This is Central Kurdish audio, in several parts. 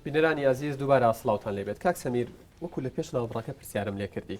بینەرانی ئازیز دووبارە سڵاوتان لێبێت کاک سەمیر وەکو لە پێش ناوبڕەکە پرسیارم لێکردی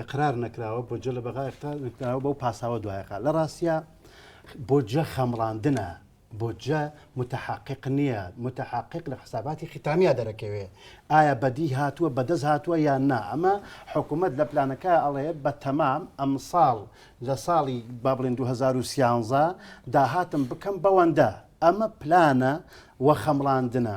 ئقرار نەکراوە بۆ جە لە بەغا ئقرار نکراوە بەو پاساوە دوایقا لە ڕاستە بۆ جە خەمڕاندنە بۆ جە متحقق نییە متحقق لە حساباتی ختامیا دەرەکەوێ ئایا بەدی هاتووە بەدەس هاتووە یان نا ئەمە حکوومەت لە پلانەکە ئەڵێ بە تەمام ئەم ساڵ لە ساڵی با بڵێن 2013 داهاتم بکەم بەوەندە ئەمە پلانە وە خەمڵاندنە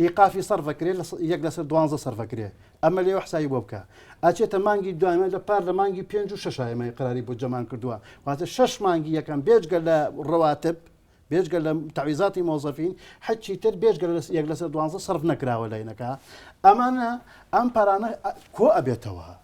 ئیقافی سەرف ئەکرێ لە یەک لەسەر دوانزە سەرف ئەکرێ ئەمە لێوە حسابی بۆ بکە ئەچێتە مانگی دوایمە لە پار لە مانگی پێنج و شەش ئێمە قراری بۆ جەمان کردووە واتە شەش مانگی یەکەم بێجگە لە ڕەواتب بێجگە لە تعویزاتی مۆزەفین حچی تر بێجگە لە یەک لەسەر دوانزە سەرف نەکراوە لەینەکە ئەمانە ئەم پارانە کۆ ئەبێتەوە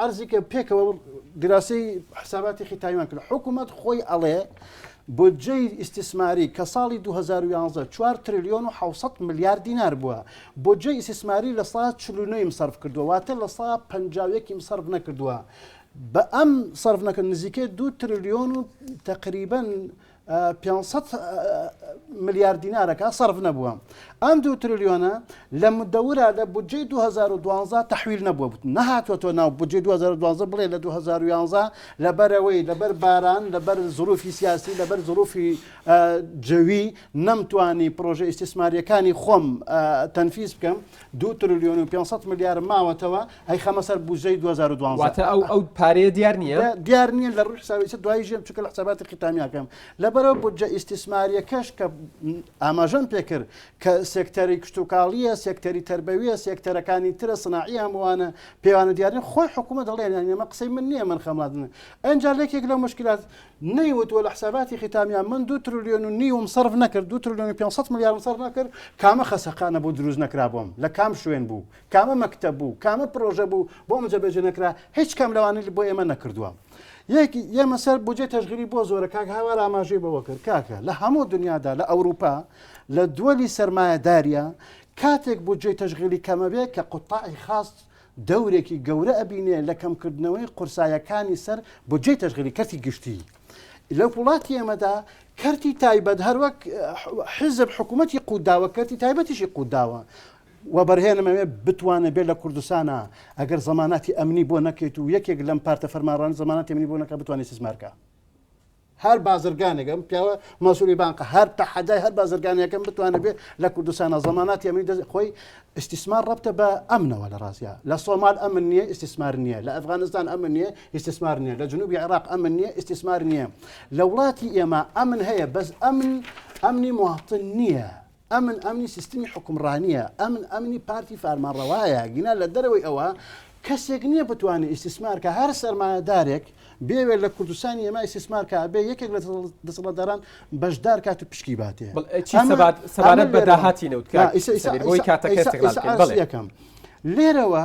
عەرزی کە پێکەوە گراسی حساباتێکی تایوان کرد حکوومەت خۆی ئەڵێ بۆجێی ئیسیسماری کە ساڵی 2011 4 تریلیۆن و 600 ملیار دینار بووە بۆجێ ئیسیسماری لە سا چلوونەیم سرف کردووە واتە لە سا پنجاوێکیم سرف نەکردووە بە ئەم سرف نەکرد نزیکە دو تریلیۆن و تقریبن پێنج سەد ملیار دینارەکە سەرف نەبووە ئەم دوو تریلیۆنە لە مدەورە لە بودجەی 2012 تحویل نەبووە بوت نەهاتوە تۆ ناو بودجەی 2012 بڵێ لە 2011 لەبەرەوەی لەبەر باران لەبەر زروفی سیاسی لەبەر زروفی جەوی نەمتوانی پرۆژە ئیسیسماریەکانی خۆم تەنفیز بکەم دو تریلیۆن و 500 ملیار ماوەتەوە ئەی خەمە سەر بوجەی 2012 واتە ئەو ئەو پارەیە دیار نییە دیار نییە لە ڕووی حسابی دوای ژێم چکە لە حساباتی قیتامیاکەم لەبەرەوە بودجە ئیسیسماریەکەش کە ئاماژەم پێکرد کە سێکتەری کشتتوکاڵیە سێکتەری تربەویە سێکتەرەکانی ترە سناعی هەمووانە پێوانە دیارە خۆی حکوومە دەڵێن ئەمە قسەی من نییە من خەمادن ئەجا لەکێک لە مشکلات نەیوتوە لە حساباتی قیتامیان من دو ترلیۆن و نیوم صرف نەکرد دو ترلیۆن 500 میلیارم صرف نەکرد کامە خەسەقانە بۆ دروست نەکرابووم لە کام شوێن بوو کامە مەکتەب بوو کامە پرۆژە بوو بۆ ئەمە جێبەجێ نەکرا هیچ کام لەوانەی بۆ ئێمە نەکردووە یەکی ئێمە سەر بۆجێ تەژگیری بۆ زۆرە کاک هاوار ئاماژەی بەوە کرد کاکە لە هەموو دنیادا لە ئەوروپا لە دووەلی سرمایهداریە کاتێک بۆ جێ تەژغلی کەمەبێ کە قوتاعی خاص دەورێکی گەورە ئەبینێ لە کەمکردنەوەی قورسایەکانی سەر بۆ جێ تەژغلی کەرتی گشتی لە وڵاتی ئێمەدا کەرتی تایبەت هەروەک حزب حکوومەتتی قوداوە کەرتی تایبەتیشی قوداوە وەبەرهێنم ئەوێ بتوانێ بێ لە کوردستانا ئەگەر زەماناتی ئەمنی بۆ نەکەیت و یەکێک لەم پارتە فەرمانڕانی زەماناتی ئەمنی بۆ نەکە بتوانێت سیسمارکە هەر بازرگانێکم پیاوە مەسولی بانقە هەر تەحەدای هەر بازرگانەکەم بتوانێت بێ لە کوردستانە زەماناتی ئەمنی دەست خۆی ئیسیسمار ڕەبتە بە ئەمنەوە لە ڕاستە لە سۆمال ئەمن نییە ئیسیسمار نییە لە ئەفغانستان ئەمن نییە ئیسیسمار نییە لە جنوبی عێراق ئەمن نییە ئیسیسمار نییە لە وڵاتی ئێمە ئەمن هەیە بەس ئەمن ئەمنی مواطن نییە ئەمن ئەمنی سیستمی حکومڕانییە ئەمن ئەمنی پارتی فارمانڕەوایە گینا لە دەرەوەی ئەوە کەسێک نییە بتوانێت ئیسیسمارکە هەر سەرمایەدارێک بێوێت لە کوردستانی ئێمە ئیسیسمارکە بێ یەکێک لە دەسەڵاتداران بەشدار کات و پشکی باتێ سەبارەت بە داهاتی نەوتکە کاتەکەم لێرەوە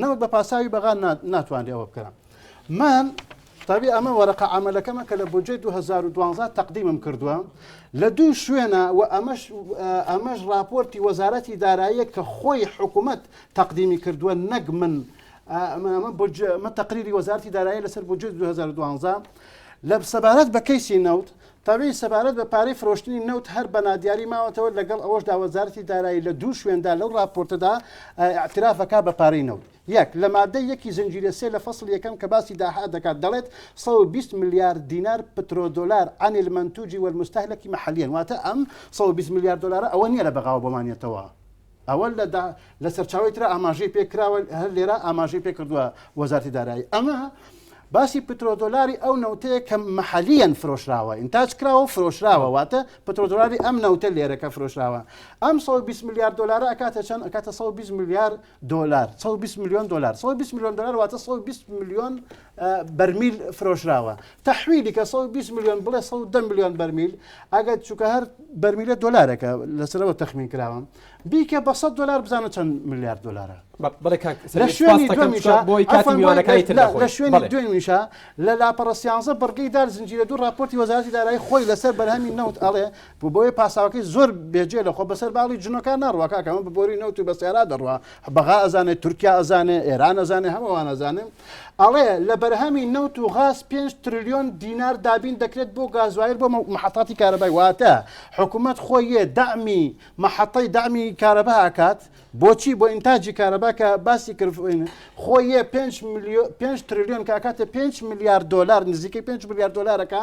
نەوەک بە پاساوی بەغا ناتوانرێ ئەوە بکەن من تابی ئەمە وەرەقە ئەمەلەکەمە کە لە بۆجێ 2012 تەقدیمم کردووە لە دوو شوێنە و ئەمەش ئەمەش راپۆرتی وەزارەتی داراییە کە خۆی حکوومەت تەقدیمی کردووە نەک من مە تەقریری وەزارتی دارایی لەسەر بۆجێ 2012 لە سەبارەت بە کەیسی نەوت تەوێی سەبارەت بە پارەی فرۆشتنی نەوت هەر بە نادیاری ماوەتەوە، لەگەڵ ئەوەشدا وەزارەتی دارایی لە دوو شوێندا لەو ڕاپۆرتەدا ئیعتراف دەکات بە پارەی نەوت. یەک، لە ماددەی یەکی زنجیرە سێ لە فەسڵی یەکەم کە باسی داهات دەکات دەڵێت، سەد و بیست ملیار دینار پترۆدۆلار عن المنتوج والمستهلک محلیاً، واتە ئەم سەد و بیست ملیار دۆلارە ئەوە نییە لە بەغاوە بۆمان یەتەوە، ئەوە لە دا لە سەرچاوەی ترا ئاماژەی پێ کراوە، هەر لێرە ئاماژەی پێ کردووە وەزارەتی دارایی. ئەمە باسی پترۆدۆلاری ئەو نەوتەیە کە مەحەلیەن فرۆشراوە، ئینتاج کراوە و فرۆشراوە، واتە پترۆدۆلاری ئەم نەوتە لێرە کە فرۆشراوە. ئەم 120 ملیار دۆلارە ئەکاتە چەند؟ ئەکاتە 120 ملیار دۆلار، 120 ملیۆن دۆلار، 120 ملیۆن دۆلار واتە 120 ملیۆن بەرمیل فرۆشراوە. تەحویلی کە سەد و بیست ملیۆن بڵێ سەد و دە ملیۆن بەرمیل ئەگەر چووکە هەر بەرمیلە دۆلارەکە لەسەرەوە تەخمین کراوە بیکە بە سەد دۆلار بزانە چەند ملیار دۆلارە بە- بڵێ کاک لە سەرێ، شوێنی سپاس دەکەم دومیشا چونکە بۆی کاتی عەفوەن، میوانەکانی تر لە- لە دەخۆین. شوێنی بەڵێ. دومیشا لە لاپەڕە سیانزە بڕگەی دار زنجیرە دوو راپۆرتی وەزارەتی دارایی خۆی لەسەر بەرهەمی نەوت ئەڵێ بۆ بۆیە پاساوەکەی زۆر بێجێ لە خۆ بەسەر باڵی جنۆکان ناڕوا کاکە ئەمە بە بۆری نەوت و بە سیارا دەڕوا بەغا ئەزانێ تورکیا ئەزانێ ئێران ئەزانێ هەمووان ئەزانێ ئەڵێ لە بەرهەمی نەوت و غاز پێنج ترلیۆن دینار دابین دەکرێت بۆ گازوایر بۆ محەتاتی کارەبای واتە حکوومەت خۆی یە دامی محەتەی دامی کارەبا ئاکات بۆچی بۆ ئینتاجی کارەبا کە باسی کرد خۆی یە 5 ترلیۆن کاکاتە 5 میلیارد دلار نزیکەی 5 میلیارد دلارەکە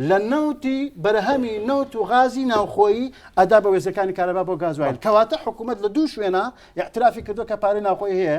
لە نەوتی بەرهەمی نەوت و غازی ناوخۆیی ئەدا بە وێزەکانی کارەبا بۆ گازوایر کەواتە حکوومەت لە دوو شوێنە یاعترافی کردو کە پارەی ناوخۆی هەیە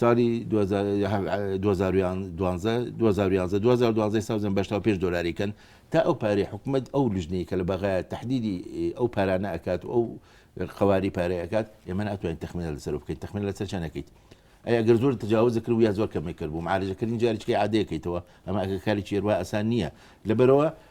سالی دوو هەزار یە هە دوو هەزار و یان دوانزە دوو هەزار و یانزە دوو هەزار و دوانزەی سەوزم بەش تا پێنج دۆلاری کەن تا ئەو پارەی حکومەت ئەو لجنەی کە لە بەغایە تەحدیدی ئەو پارانە ئەکات و ئەو قەواری پارەی ئەکات ئێمە ناتوانین تەخمینە لەسەر بکەین تەخمین لەسەر چەند ئەکەیت ئەی ئەگەر زۆر تجاوز کرد و یا زۆر کەمی کرد بوو معالجەکردنی جاریچکەی عادەیەکەیتەوە ئەمە ئەگەر کاریی هێروا ئەسان نییە لەبەرەوە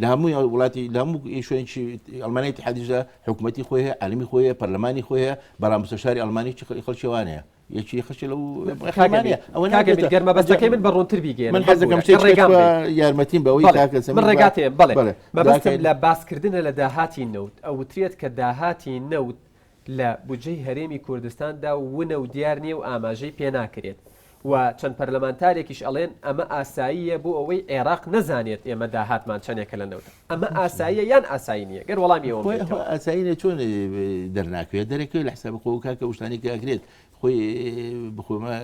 لە هەموو ئەو وڵاتی لە هەموو شوێنی ئەلمانای تحادیشدا حکوومەتتی خۆی هەیە عالمی خۆیە پەرلەمانی خۆیە بەڵام مستەشاری ئەلمانی چ خەڵکیوانەیە یەکی خەچ لەو گەرمە بەستەکەی من بە ڕوونتر بیگەێن من حەزەکەم ڕێگام یارمەتیم بەوەی من ڕێگاتێ بڵێ مەبەستم لە باسکردنە لە داهاتی نەوت ئەوترێت کە داهاتی نەوت لە بودجەی هەرێمی کوردستاندا ونە و دیار نییە و ئاماژەی پێ ناکرێت و چەند پەرلەمانتارێکیش ئەڵێن ئەمە ئاساییە بۆ ئەوەی عێراق نەزانێت ئێمە داهاتمان چەندێکە لە نەوت. ئەمە ئاساییە یان ئاسایی نییە؟ گەر وەڵامی ئەوەم بدەیتەوە. ئاسایی نییە چۆن دەرناکەوێت؟ دەرەکەوێت لە حسابی خۆ کاکە ئەو شتانەی کە ئەکرێت خۆی بخۆمە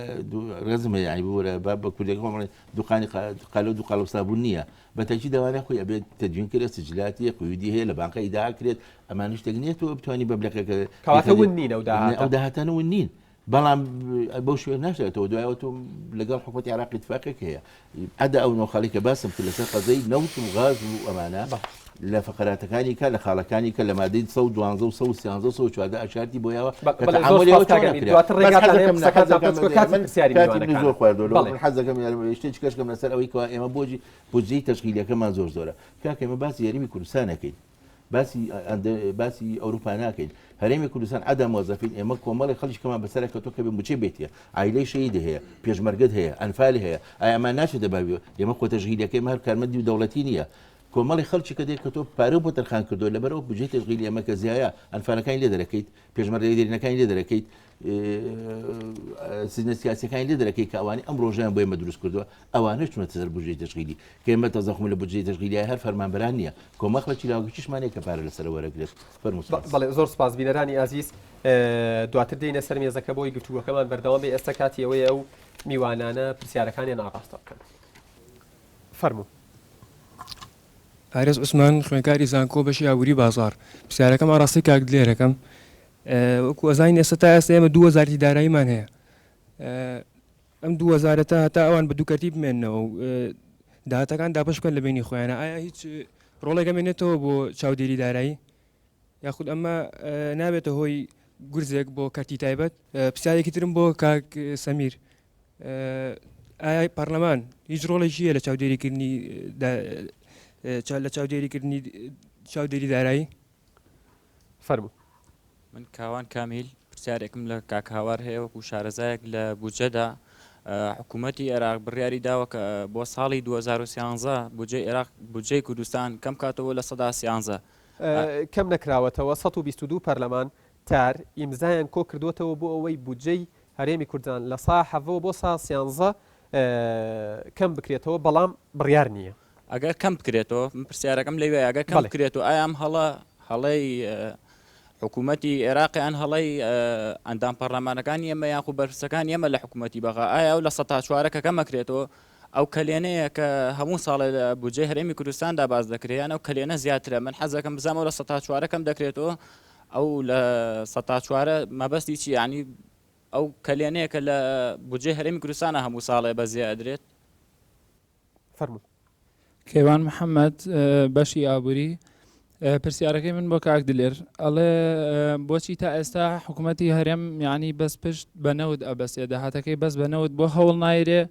ڕێزم هەیە عەیبە وەرە با بە کوردێک خۆم بڵێ دوقانی قالە و دوقالە و سابوون نییە بە تەکی دەوانێ خۆی ئەبێت تەدوین کرێت سجلاتیە قیودی هەیە لە بانقە ئیدا کرێت ئەمانش تەک نیە تۆ بتانی بە بلەکەکە کەواتە ون نین ئەو داهاتە ئەو داهاتانە ون نین بەڵام بەو شوێن ناشێتەوە دوایەوە تۆ لەگەڵ حکوومەتی عراقی تفاقێک هەیە ئەدا ئەو نۆخەڵی کە باسم کرد لەسەر قەزەی نەوت و غاز و ئەمانە لە فەقەراتەکانی کە لە خاڵەکانی کە لە مادەی سەد و دوانزە و سەد و سیانزە و سەد و چواردە ئاشارتی بۆ یاوە بە- کە بەڵێ، زۆر تەعامولی ئەوە سوپاس کاک چۆنە ئەمیر. کرا. دواتر بەس ڕێگاتان هەیە حەزەکەم نە- قسەکانتان حەزەکەم بچکۆ، کاتی من- پرسیاری کاتی من میوانەکانە. زۆر خواردووە لەوە بەڵێ. من حەزەکەم یارمە شتێ چکەش کەم لەسەر ئەوەی کەوا ئێمە بۆجی بودجەی تەشکیلیەکەمان زۆر زۆرە کاکە ئێمە باسی یاریمی کوردستان نەکەین باسی ئەندە- باسی ئەوروپا ناکەین هەرێمی کوردستان عەدە مۆزەفین ئێمە کۆمەڵی خەڵکی کەمان بەسەرە کەوتو کە بێ موچەی بێتیە عایلەی شەهیدی هەیە پێشمەرگەت هەیە ئەنفالی هەیە ئایە ئەمان ناچێتە بابیەوە ئێمە خۆ تەشکیلیەکەی مار کارمەندی دەوڵەتی نییە کۆمەڵێ خەڵکی کە دێت کە تۆ پارەو بۆ تەرخان کردوە لەبەر ئەو بجەی تەشغیلی ئەمە کە زیایە ئەنفالەکانی لێ دەرەکەیت پێشمەرگەی دێرینەکانی لێ دەرەکەیت سیزنە سیاسەکانی لێ دەرەکەی کە ئەوانی ئەم ڕۆژیان بۆ ئێمە دروست کردووە ئەوانە چونەتە سەر بژی تەشغیلی کە ئێمە تەزەخم لە بجی تەشغیلی هەر فەرمانبران نییە کۆمەخڵەکی لاوگەکیشمانێک کە پارە لەسەر وەرەگرێت فەرموس بەڵێ زۆر سپاس بینەرانی ئازیز دواتر دێنە سەر مێزەکە بۆی گفتوگەکەمان بەردەوام بێ ئێستا کاتی ئەوەیە ئەو میوانانە پرسیارەکانیان ئاڕاستە بکەن. فەرموو. پارێز عوسمان خوێنکاری زانکۆ بەشی ئابوری بازار پرسیارەکەم ئاراستەی کاک دلێرەکەم وەکو ئەزانین ئێستا تا ئێستا ئێمە دوو وەزارتی داراییمان هەیە ئەم دوو وەزارەتە هەتا ئەوان بە دووکەتی بمێنەوە و داهاتەکان دابش بکەن لە بینی خۆیانە ئایا هیچ ڕۆڵێکە مێنێتەوە بۆ چاودێری دارایی یاخود ئەمە نابێتە هۆی گورزێک بۆ کەرتی تایبەت پرسیارێکی ترم بۆ کاک سەمیر ئایا پەرلەمان هیچ ڕۆڵێکی هەیە لە چاودێریکردنی لە چاودێریکردنی چاودێری دارایی فەرمو من کاوان کامیل پرسیارێکم لە کاکهاوار هەیە وەکو شارەزایەک لە بودجەدا حکوومەتتی عێراق بڕیاری داوە کە بۆ ساڵی 2013 بجێ عێراق بجێ کوردستان کەم کاتەوە لە سەدا سیانزە کەم نەکراوەتەوە 122 پەرلەمان تار ئیمزایان کۆ کردوەتەوە بۆ ئەوەی بودجەی هەرێمی کوردستان لە سا حەڤەوە بۆ سا سیانزە کەم بکرێتەوە بەڵام بڕیار نییە. ئەگەر کەم بکرێتەوە من پرسیارەکەم لەوێ ئەگەر کەم بکرێت و ئایا ئەم هەڵە هەڵەی حکوومەتی عێراقی یان هەڵەی ئەندام پەرلەمانەکانی ئێمە یاخو بەرپرسەکان ئێمە لە حکوومەتی بەغا ئایا ئەو لە سە تا چوارە کە کەمەکرێتەوە ئەو کەلێنەیە کە هەموو ساڵێ لە بودجەی هەرێمی کوردستاندا باز دەکرێت یان ئەو کەلێنە زیاترە من حەزەکەم بزانمەوە لە سە تا چوارەکەم دەکرێتەوە ئەو لە سەتا چوارە مەبەستی چیە یانی ئەو کەلێنەیە کە لە بودجەی هەرێمی کوردستانە هەموو ساڵێ بەزێ ئەدرێت؟ فەرموو. کەیوان محەمەد بەشی ئابووری پرسیارەکەی من بۆ کاک دلێر ئەڵێ بۆچی تا ئێستا حکوومەتی هەرێم یعنی بەس پشت بە نەوت ئەبەسێ داهاتەکەی بەس بە نەوت بۆ هەوڵ نایرێ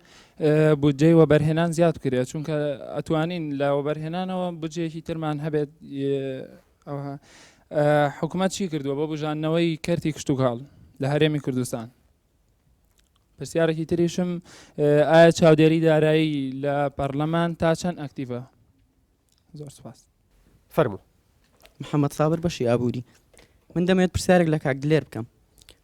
بودجەی وەبەرهێنان زیاد کرێت چونکە ئەتوانین لە وەبەرهێنانەوە بجێکی ترمان هەبێت ئەوها حکومەت چی کردووە بۆ بژاندنەوەی کەرتی کشتتوکاڵ لە هەرێمی کوردستان پرسیارێکی تریشم ئایا چاودێری دارایی لە پەرلەمان تا چەند ئەکتیڤە زۆر سپاس فەرمو محەممەد سابر بەشی ئابووری من دەمێت پرسیارێک لە کاک دلێر بکەم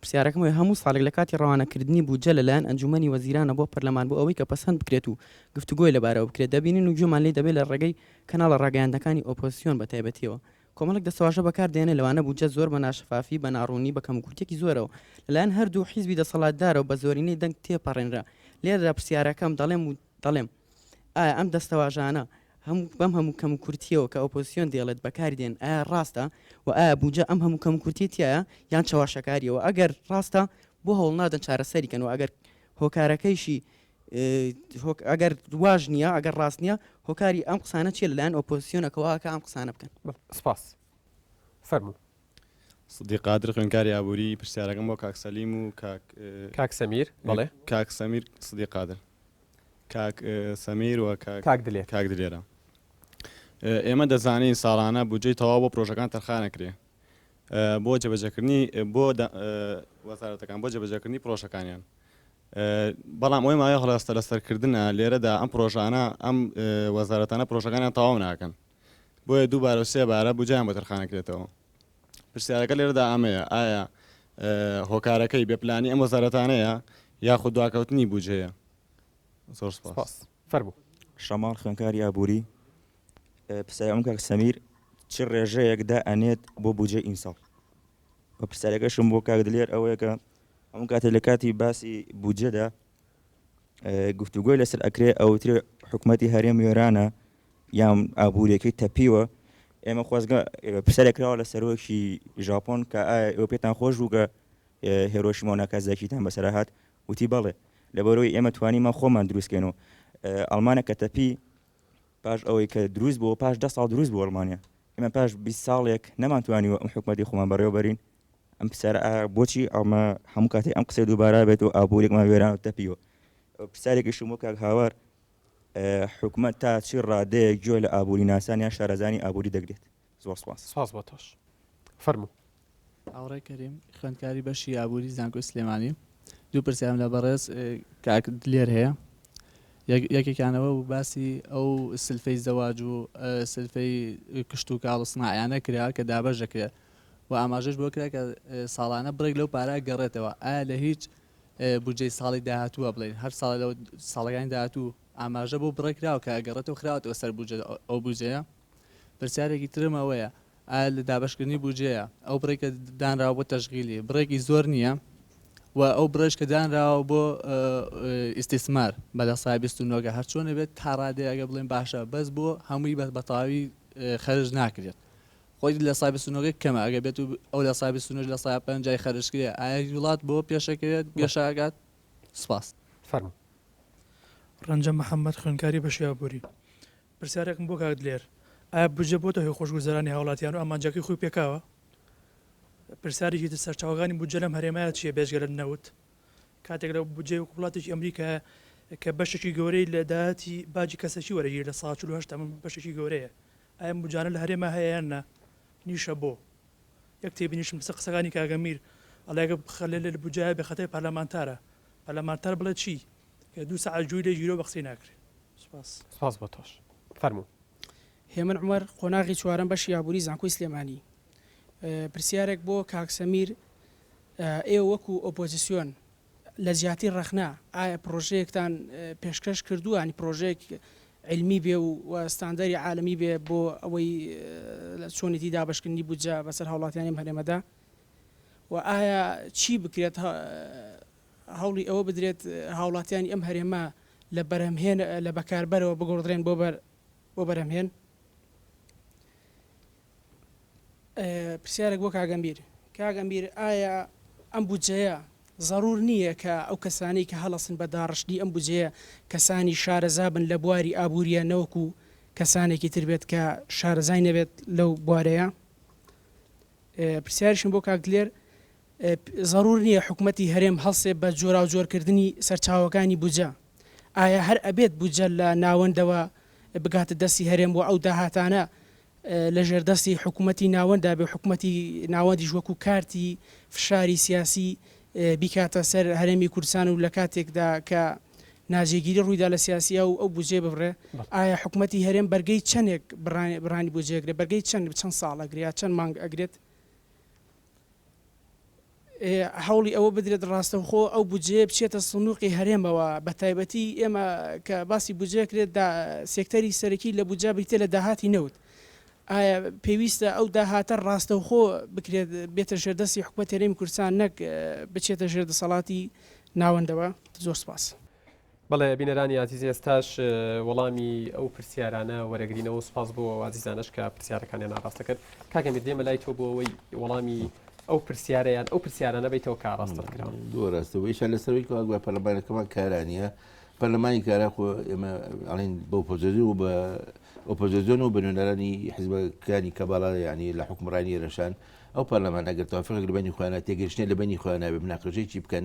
پرسیارەکەم ئەوەیە هەموو ساڵێک لە کاتی ڕەوانەکردنی بودجە لە لایەن ئەنجوومەنی وەزیرانە بۆ پەرلەمان بۆ ئەوەی کە پەسەند بکرێت و گفتوگۆی لەبارەوە بکرێت دەبینین و گوێمان لێی دەبێت لە ڕێگەی کەناڵە ڕاگەیاندنەکانی ئۆپۆزسیۆن بە تایبەتییەوە کۆمەڵێک دەستەواژە بەکار دێنێت لەوانە بودجە زۆر بە ناشەفافی بە ناڕوونی بە کەموکورتێکی زۆرەوە لە لایەن هەردوو حیزبی دەسەڵاتدارەوە بە زۆرینەی دەنگ تێپەڕێنرا لێرەدا پرسیارەکەم دەڵێم دەڵێم، ئایا ئەم دەستەواژانە بەم هەموو کەموکورتییەوە کە ئۆپۆزسیۆن دەیڵێت بەکاری دێن، ئایا ڕاستە؟ و ئایا بودجە ئەم هەموو کەموکورتییە تیایە یان چەواشەکارییە؟ و ئەگەر ڕاستە بۆ هەوڵ نادەن چارەسەری کەن؟ و ئەگەر هۆکارەکەیشی ئەگەر واش نییە، ئەگەر ڕاست نییە، هۆکاری ئەم قسانە چییە لەلایەن ئۆپۆزسیۆنەکەوە کە ئەم قسانە بکەن؟ سپاس. فەرموو. سدیق قادر خوێندکاری ئابووری، پرسیارەکەم بۆ کاک سەلیم و کاک. کاک سەمیر، بەڵێ. کاک سەمیر سدیق قادر. کاک سەمیر و کاک. کاک دلێر. کاک دلێرە. ئێمە دەزانین ساڵانە بودجەی تەواو بۆ پرۆژەکان تەرخان ئەکرێ بۆ جێبەجێکردنی بۆ وەزارەتەکان بۆ جێبەجێکردنی پرۆژەکانیان. بەڵام ئەوەی مایە هەڵاستە لەسەرکردە لێرەدا ئەم پرۆژانە ئەم وەزارەتانە پرۆژەکانیان تەواو ناکەن بۆیە دووبارە و سێ بارە بوجایان بۆ تەرخانەکرێتەوە. پرسیارەکە لێرەدا ئەمەیە، ئایا هۆکارەکەی بێ پلانی ئەم وەزارەتانەیە یاخود دواکەوتنی بوجەیە؟ زۆر سپاس. فەرموو. شەماڵ خوێنکاری ئابووری، پرسیارەکەم کاک سەمیر چ ڕێژەیەک دائەنێت بۆ بوجەی ئیمساڵ؟ و پرسیارەکەشم بۆ کاک دلێر ئەوەیە کە هەموو کاتێک لە کاتی باسی بوجەدا گفتوگۆی لەسەر ئەکرێ ئەوترێ حکومەتی هەرێم وێرانە یان ئابووریەکەی تەپیوە ئێمە خۆزگە پرسیارێک کراوە لە سەرۆکی ژاپۆن کە ئایا ئێوە پێتان خۆش بوو کە هێرۆشیما و ناکازاکیتان بەسەرا هات وتی بەڵێ لەبەرەوەی ئێمە توانیمان خۆمان دروستکەینەوە ئەڵمانە کە تەپی پاش ئەوەی کە دروست بووە پاش دە ساڵ دروست بوو ئەڵمانیا ئێمە پاش 20 ساڵێک نەمانتوانیوە ئەم حکومەتی خۆمان بەڕێوەبەرین ئەم پرسیار بۆچی ئەڵمە هەموو کاتێک ئەم قسەی دووبارە بێت و ئابوورێکمان وێران و تەپیوە پرسیارێکیشم وەک هاوار حکومەت تا چی ڕادەیەک گوێ لە ئابووریناسان یان شارەزایانی ئابووری دەگرێت؟ زۆر سپاس. سپاس بۆ تۆش. فەرموو. هاوڕێ کەریم، خوێندکاری بەشی ئابووری زانکۆی سلێمانی. دوو پرسیارم لە بەڕێز کاک دلێر هەیە. یەک یەکێکیان ئەوە بوو باسی ئەو سلفەی زەواج و سلفەی کشتوکاڵ و سناعیانە کرا کە دابەش دەکرێت و ئاماژەش بۆ کرا کە ساڵانە بڕێک لەو پارە گەڕێتەوە. ئایا لە هیچ بودجەی ساڵی داهاتوو وا بڵێین هەر ساڵە لە ساڵەکانی داهاتوو ئاماژە بۆ بڕێک کراوە کە ئەگەڕێتەوە خراوەتەوە سەر بودجە ئەو بودجەیە پرسیارێکی ترم ئەوەیە ئایا لە دابشکردنی بودجەیە ئەو بڕێکە دانراوە بۆ تەشغیلی بڕێکی زۆر نییە و ئەو بڕێش کە دانراوە بۆ ئیسیسمار بە لە سای بیست و نۆگە هەرچۆنە بێت تا ڕادێ ئەگە بڵێن باشە بەس بۆ هەمووی بەس بەتەواوی خەرج ناکرێت خۆی لە سای بستونەوەکەی کەمە ئەگەر بێت و ئەو لە سای بستونەوەش لە سایە پەنجای خەرج کرێ ئایا هیچ وڵات بۆ پێشەکەوێت گەشە ئەکات؟ سپاس. فەرموو. ڕەنجە محەمەد خوێندکاری بەشی ئابووری. پرسیارێکم بۆ کاک دلێر. ئایا بودجە بۆتە هۆی خۆشگوزەرانی هاوڵاتیان و ئامانجەکەی خۆی پێکاوە؟ پرسیارێکی تر سەرچاوەکانی بودجە لەم هەرێمە چیە بێجگە لە نەوت؟ کاتێک لە بودجەی وەکو وڵاتێکی ئەمریکایە کە بەشێکی گەورەی لە داهاتی باجی کەسەکی وەرەگیرێت لە سەدا چل و هەشت ئەمە بەشێکی گەورەیە ئای ئەم گوجانە لە هەرێما هەیە یان نا نیشە بۆ یەک تێبینیشم لەسەر قسەکانی کاک ئەمیر ئەڵێ گە خەلێلێل بوجایە بێ خەتای پارلەمانتارە پارلەمانتار بڵێ چی کە دوو سەعات گوێی لێ گیرۆ بە قسەی ناکرێ سوپاس. سپاس بۆ تۆش. فەرموو. هێمن عومەر قۆناغی چوارەم بەشی ئابوری زانکۆی سلێمانی پرسیارێک بۆ کاک سەمیر ئێوە وەکو ئۆپۆزسیۆن لە جیاتی ڕەخنە، ئایا پڕۆژەیەکتان پێشکەش کردووە، یانی پڕۆژەیەک عیلمی بێ و و ستاندەری عالەمی بێ بۆ ئەوەی چۆنێتی دابەشکردنی بودجە بەسەر هاوڵاتیانی ئەم هەرێمەدا و ئایا چی بکرێت هەوڵی ئەوە بدرێت هاوڵاتیانی ئەم هەرێمە لە بەرهەمهێن لە بەکاربەرەوە بگۆڕدرێن بۆ بەر بۆ بەرهەمهێن؟ پرسیارێک بۆ کاک ئەمیر، کاک ئەمیر ئایا ئەم بودجەیە زەرور نییە کە ئەو کەسانەی کە هەڵەسن بە داڕشتنی ئەم بودجەیە کەسانی شارەزا بن لە بواری ئابوورییە نەوەکو کەسانێکی تر بێت کە شارەزای نەبێت لەو بوارەیە؟ پرسیاریشم بۆ کاک دلێر، زەرور نییە حکومەتی هەرێم هەڵسێ بە جۆراوجۆرکردنی سەرچاوەکانی بودجە، ئایا هەر ئەبێت بودجە لە ناوەندەوە بگاتە دەستی هەرێم و ئەو داهاتانە لە ژێردەستی حکوومەتی ناوەنددا بێ و حکوومەتی ناوەندیش وەکوو کارتی فشاری سیاسی بیکاتە سەر هەرێمی کوردستان و لە کاتێکدا کە ناجێگیری ڕووی دا لە سیاسی ئەو ئەو بودجەیە ببڕێ، ئایا حکوومەتی هەرێم بەرگەی چەندێک بڕانی بودجەیەک دەبێ؟ بەرگەی چەند چەند ساڵ ئەگرێ یا چەند مانگ ئەگرێت؟ هەوڵی ئەوە بدرێت ڕاستەوخۆ ئەو بودجەیە بچێتە سندوقی هەرێمەوە بە تایبەتی ئێمە کە باسی بودجە کرێت دا سێکتەری سەرەکی لە بودجە بریتە لە داهاتی نەوت ئایا پێویستە ئەو داهاتە ڕاستەوخۆ بکرێت بێتە ژێردەستی حکومەت هەرێمی کوردستان نەک بچێتە ژێر دەسەڵاتی ناوەندەوە زۆر سپاس. بەڵێ بینەرانی ئازیز ئێستاش وەڵامی ئەو پرسیارانە وەرەگرینەوە سپاس بۆ ئازیزانش کە پرسیارەکانیان ئاڕاستە کرد کاکە میر دێمە لای تۆ بۆ ئەوەی وەڵامی ئەو پرسیارەیان ئەو پرسیارانە بیتەوە کە ئاڕاستە کران دوو ڕاستەوە ئیشا لەسەرەوەی کەوا پەرلەمانەکەمان کارانە پەرلەمانی کارا خۆ ئێمە ئەڵین بۆ پۆزۆزی و بە ئۆپۆزیۆن و بنوێنەرانی حزبەکانی کە باڵا ینی لە حکومڕانی رەشان ئەو پەرلەمان ئەگەر تافق لەبنی خوانە تێگەشتێ لەبنی خواناوێ مناقەشەی چی بکەن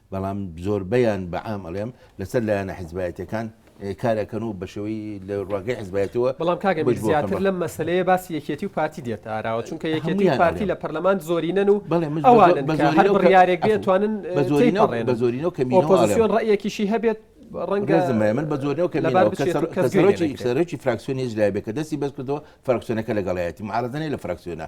بەڵام زۆربەیان بە عام ئەڵێم لەسەر لایەنە حیزبایەتیەکان کارەکەن و بەشێوەی لە ڕواگەی حزبایەتەوە بەڵام کاگە میر زیاتر لەم مەسلەیە باسی یەکێتی و پارتی دێتە ئاراوە چونکە یەکێتی و پارتی لە پەرلەمان زۆرینەن و ئەوانن کە هەر بڕیارێک بێت توانن بە زۆرینەوە کە ئۆپۆزیسیۆن ڕەیەکیشی هەبێت ڕەنگە زمە من بە زۆرەوە کەسەرۆکی فراکسیۆنی لای بێکە دەستی بەس کردەوە فراکسیۆنەکە لەگەڵایەتی معارزنەی لە فراکسیۆنە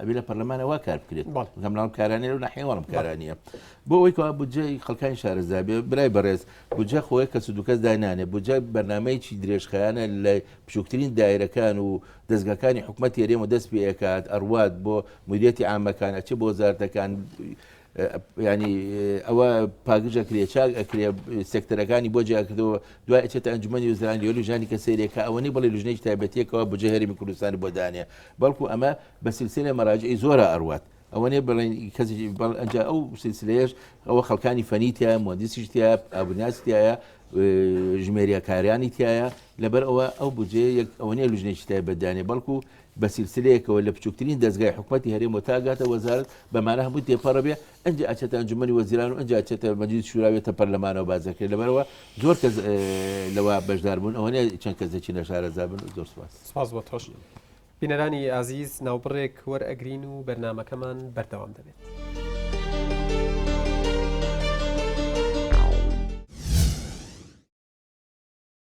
ئەبێ لە پەرلەمانە وا کار بکرێت بەڵێ. بەڵام ناوم کارانێ و نەحێوەڵم کارانە بۆ ئەوەی کەوا بودجەی خەڵکانی شارەزا بێ برای بەڕێز بودجە خۆی کەس و دوکەس داینانێ بودجە بەرنمەیەکی درێژخایانە لە بچووکترین دایرەکان و دەستگاکانی حکوومەت تێرێمە دەست پێکات ئەڕوات بۆ مدیەتی ئامەکان ئەچێ بۆ زارتەکان یانی ئەوە پاکژ ئەکرێ چاک ئەکرێ سێکتەرەکانی بۆ جیاکردەوە دوای ئەچێتە ئەنجومەنی وزران یۆلی ژانی کە سێرێک کە ئەوەنی بڵێ لژنەی تایبەتیەکەەوە بجێ هەرمی کوردستان بۆ دانێ بەڵکو ئەمە بە سلسلە مەراجعی زۆرە ئەروات ئەوەنێ بڵێن کەس بەڵ ئەنج ئەو سلسلەیەش ئەوە خەڵکانی فەنیتە مۆندیسیشتە ئابناسیایە ژمێریەکاریانی تایە لەبەر ئەوە ئەو بجێ یەک ئەوەنێ لژنێکی تایبەتدانێ بەڵکو و بە سیلسلەیەکەوە لە بچوکترین دەزگای حکومەتی هەرێم و تا ئەگاتە وەزارەت بە مانا هەمووی تێپەڕ ئەبێ ئەنجا ئەچێتە ئەنجومەنی وەزیران و ئەنجا ئەچێتە مەجلیس شورا و یێتە پەرلەمانەوە باس دەکرێت لەبەرەوە زۆر کەس لەوە بەشدار بوون ئەوە نیە چەند کەس دەچینە شارەزا بن زۆر سپاس. سپاس بۆ تۆش. بینەرانی ئازیز ناوبڕێک وەرئەگرین و بەرنامەکەمان بەردەوام دەبێت.